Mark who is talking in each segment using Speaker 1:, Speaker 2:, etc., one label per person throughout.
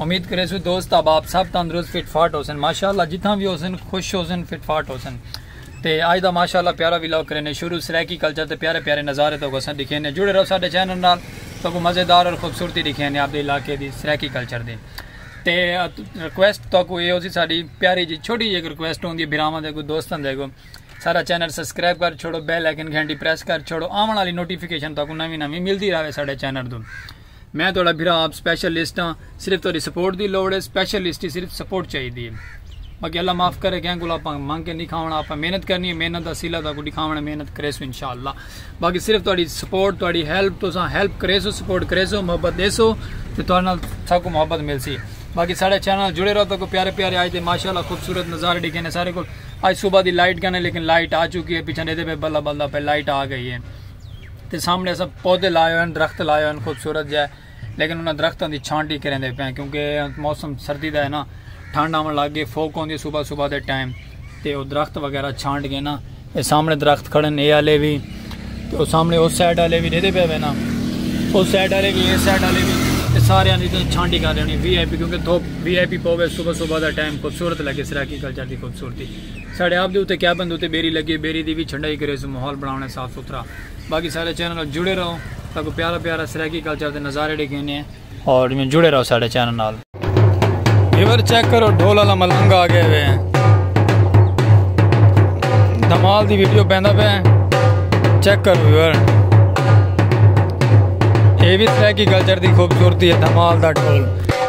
Speaker 1: امید کریسوں دوست احباب سب تندرست فٹ فاٹ ہوسن ماشاءاللہ جتھاں وی ہوسن خوش ہوسن فٹ فاٹ ہوسن تے آج دا ماشاءاللہ پیارا ویلاگ کرینے شروع سرائیکی کلچر تے پیارے پیارے نظارے تو گسن دکھینے جڑے رہو ساڈے چینل نال تو کو مزیدار اور خوبصورتی دکھینے آپ دے علاقے دی سرائیکی کلچر دی تے ریکویسٹ تو کو اے ہوسی ساڈی پیاری جی چھوٹی جی ریکویسٹ ہوندی بھراواں دے کو دوستاں دے کو سارا چینل سبسکرائب کر چھوڑو بیل آئیکن گھنٹی پریس کر چھوڑو آون والی نوٹیفیکیشن تو کو نویں نویں ملدی رہے ساڈے چینل دو میں تہاڈا بھرا آپ سپیشل لسٹ ہاں صرف تہاڈی سپورٹ دی لوڑ ہے سپیشل لسٹ ہی صرف سپورٹ چاہی دی ہے باقی اللہ معاف کرے کہیں کو آپ منگ کے نہیں کھاونا آپ محنت کرنی ہے محنت دا سیلا تاکو دکھاونا محنت کرے سو انشاءاللہ باقی صرف تہاڈی سپورٹ تہاڈی ہیلپ تو سا ہیلپ کرے سو سپورٹ کرے سو محبت دے سو تے تہاڈے نال ساکو محبت مل سی باقی سارے چینل جڑے رہو تاکو پیارے پیارے آج دے ماشاءاللہ خوبصورت نظارے ڈکھے نے سارے کو آج صبح دی لائٹ گنے لیکن لائٹ آ چکی ہے پیچھے دے دے پہ بلا بلا پہ لائٹ آ گئی ہے تے سامنے اساں پودے لائے ہوئے ہیں درخت لائے ہوئے ہیں خوبصورت جائے لیکن انہاں درختاں دی چھانٹی کریں دے پئے کیونکہ موسم سردی دا ہے نا ٹھنڈ آون لگ گئی فوک ہوندی صبح صبح دے ٹائم تے او درخت وغیرہ چھانٹ گئے نا اے سامنے درخت کھڑے ہیں اے والے بھی تے او سامنے اس سائیڈ والے بھی ڈیدے پئے نا اس سائیڈ والے بھی اس سائیڈ والے بھی تے سارے دی تے چھانٹی کر دینی وی آئی پی کیونکہ دھوپ وی آئی پی پوے صبح صبح دا ٹائم خوبصورت لگے سرائیکی کلچر دی خوبصورتی ساڑے آپ دے اتے کیبن دے اتے بیری لگے بیری دی وی چھنڈائی کریسوں ماحول بناونے صاف ستھرا باقی ساڑے چینل نال جڑے رہو تاکو پیارا پیارا سرائیکی کلچر دے نظارے ڈیکھینے اور جڑے رہو ساڑے چینل نال ریور چیک کرو ڈھول والا ملنگ آ گئے ہوئے ہیں دھمال دی ویڈیو پیندا پہ چیک کرو ویور یہ بھی سرائیکی کلچر دی خوبصورتی ہے دھمال دا ڈھول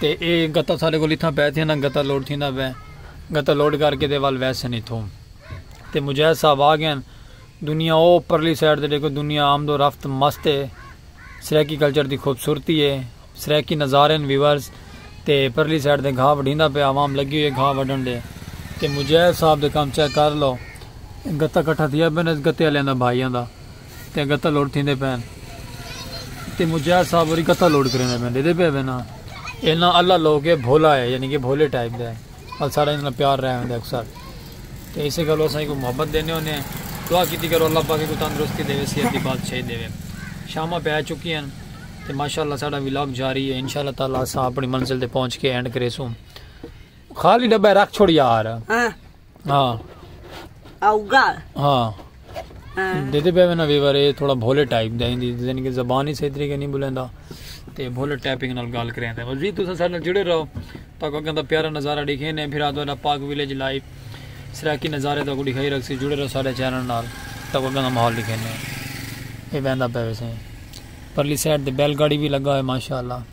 Speaker 1: تے اے گتا ساڈے کول اتھاں پے تھینا گتا لوڈ تھیندا پے گتا لوڈ کر کے تے ول ویسن اتھوں تے مجاہد صاحب آگئن دنیا او پرلی سائیڈ تے ڈیکھو دنیا آمد و رفت مست اے سرائیکی کلچر دی خوبصورتی اے سرائیکی نظارے ہن ویورز تے پرلی سائیڈ تے گھا وڈھیندا پے عوام لگی ہوئی اے گھا وڈھن دے تے مجاہد صاحب دے کم چیک کر لو گتا کٹھا تھیا پے نا اس گتے آلیاں دا بھائیاں دا۔ تے گتہ لوڈ تھیندے پین تے مجاہد صاحب ہوری گتہ لوڈ کریندے پین ڈیدے پے وینا اینا اللہ لوگ ہے بھولا ہے یعنی کہ بھولے ٹائپ دے اور سارا انہاں پیار رہے ہوندے اکثر تے اسے گلو اساں کو محبت دینے ہونے ہیں دعا کیتی کرو اللہ پاک کو تندرستی دے صحت دی بادشاہی دے شامہ پہ چکی ہیں تے ماشاءاللہ ساڈا ولاگ جاری ہے انشاءاللہ تعالی اساں اپنی منزل تے پہنچ کے اینڈ کریسوں خالی ڈبہ رکھ چھوڑ یار ہاں۔ ہاں اوگا ہاں دیدے پہ میں نوی بارے تھوڑا بھولے ٹائپ دا ہندی یعنی کہ زبان ہی صحیح طریقے نہیں بولیندا تے بھولے ٹائپنگ نال گال کریں دے مزید تو سارے نال جڑے رہو تاکہ کو کہندا پیارا نظارہ دیکھیں نے پھر آدھا پاک ویلیج لائیو سراکی نظارے تاکہ دکھائی رکھ سی جڑے رہو سارے چینل نال تاکہ کو کہندا ماحول دیکھیں نے یہ بہندا پہ ویسے پرلی سائڈ تے بیل گاڑی بھی لگا ہے ماشاءاللہ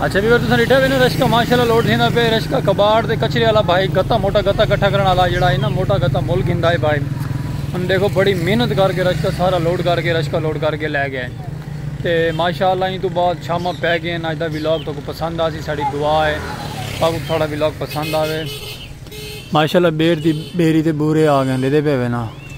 Speaker 1: اچھا بھی تساں ڈٹھا وینا رشکا ماشاءاللہ لوڈ تھیندا پے رشکا کباڑ تے کچرے والا بھائی گتا موٹا گتا اکٹھا کرن والا جڑا ہے نا موٹا گتا مول گھندا ہے بھائی ہن دیکھو بڑی محنت کر کے رشکا سارا لوڈ کر کے رشکا لوڈ کر کے لے گیا ہے تے ماشاءاللہ ان تو بعد شامہ پے گئے ہیں اج دا ولاگ تو کو پسند آسی ساڈی دعا ہے تاکو تھوڑا ولاگ پسند آوے ماشاءاللہ بیر دی بیری تے بورے آ گئے دے پے وینا